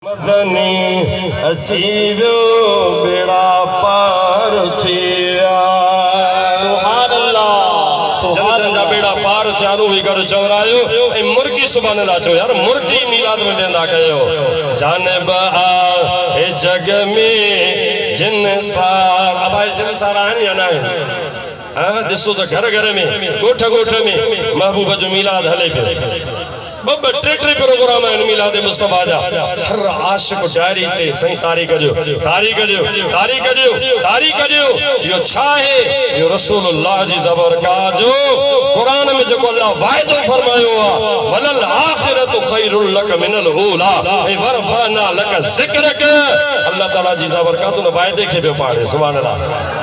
مدني اچي ويو ٻيڙا پار ٿي ويا. سبحان الله سبحان الله جنتن جا ٻيڙا پار ٿيا روحي گهر چورايو ۽ مرڪي سبحان الله چيو يار مرڪي ميلاد ۾ ويندا ڪيو جانب آهي جڳ ۾ جن سار ابا هي جن سار آهن يا ناهن ها ڏسو ته گهر گهر ۾ ڳوٺ ڳوٺ ۾ محبوب جو ميلاد هلي پيو. ٻه ٻه ٽي ٽي پروگرام آهن ميلاد مصطفيٰ جا هر عاشق ڊائري تي سائين تاريخ ڏيو تاريخ ڏيو تاريخ ڏيو تاريخ ڏيو اهو ڇا آهي اهو رسول الله جي زبرڪات جو قرآن ۾ جيڪو الله واعدو فرمايو آهي وللآخرة خير لڪ من الاولٰي ۽ ورفعنا لڪ ذڪرڪ الله تعالي جي زبرڪات ان واعدي کي پيو پاڙهي سبحان الله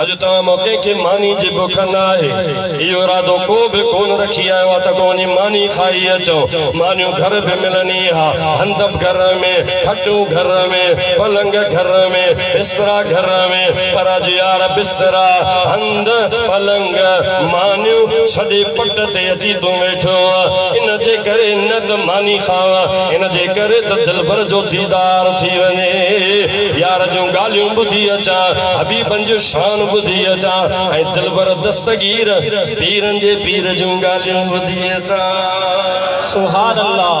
اڄ توهان مان ڪنهن کي ماني جي بک نه آهي. اهو ارادو ڪو به ڪونه رکي آيو آهي ته ڪو وڃي ماني کائي اچو. مانيون گهر به ملن ئي ها. هندب گهر ۾، کٽون گهر ۾، پلنگ گهر ۾، بسترا گهر ۾، پر اڄ يار بسترا، هنڌ، پلنگ، مانيون ڇڏي پٽ تي اچي تون ويٺو آهين. ان جي ڪري نه ته ماني کاء، ان جي ڪري ته دلبر جو ديدار ٿي وڃي. يار جون ڳالهيون ٻڌي اچان. حبيبن جون شانون ٻڌي اچان ۽ دلبر دستگير پيرن جي پير جون ڳالهيون ٻڌي اچان. سبحان الله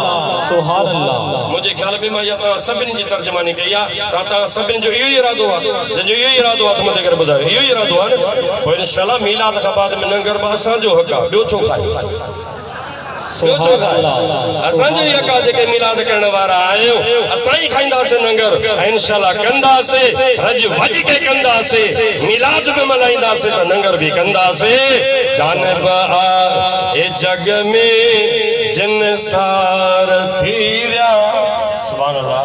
سبحان الله. منهنجي خيال ۾ مان اها توهان سڀني جي ترجماني ڪئي آ ته توهان سڀني جو اهو ئي ارادو آ جن جو اهو ئي ارادو آ ته مدد ڪري ٻڌايو اهو ئي ارادو آ نه پوء انشاء الله ميلاد کان بعد ۾ لنگر به اسان جو حق آ ٻيو ڇو کائي. ٻيو ڇو کائي؟ اسان جو ئي اڪا جيڪي ميلاد ڪرڻ وارا آهيون، اسان ئي کائينداسين ننگر ۽ انشاء الله ڪنداسين، رڄ وڄ ڪي ڪنداسين، ميلاد به ملهائينداسين ته ننگر به ڪنداسين، جانب آ هي جڳ ۾ جن سار ٿي ويا. سبحان الله.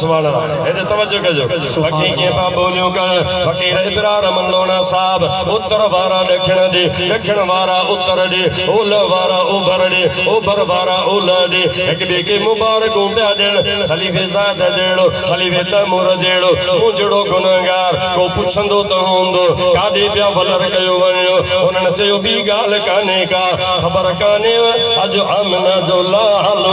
سواڻا هيڏي توجه ڪجو بکي کي پيا ٻوليون ڪن فقير ابرار من لوڻا صاحب اتر وارا ڏکڻ ڏي ڏکڻ وارا اتر ڏي اولهه وارا اوڀر ڏي اوڀر وارا اولهه ڏي هڪ ٻئي کي مبارڪون پيا ڏين خليفي زاد جهڙو خليفي تيمور جهڙو مون جهڙو گنهگار ڪو پڇندو ته هوندو ڪاڏي پيا ولر ڪيو وڃو انهن چيو ٻي ڳالهه ڪانهي ڪا خبر ڪانهيو اڄ آمنه جو لالو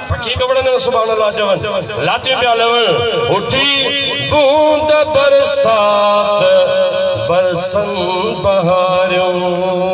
پکي ڪپڙن ۾ سبحان الله چون، لاتيون پيا لهن، اٿي بوند برسات برسن بهاريون.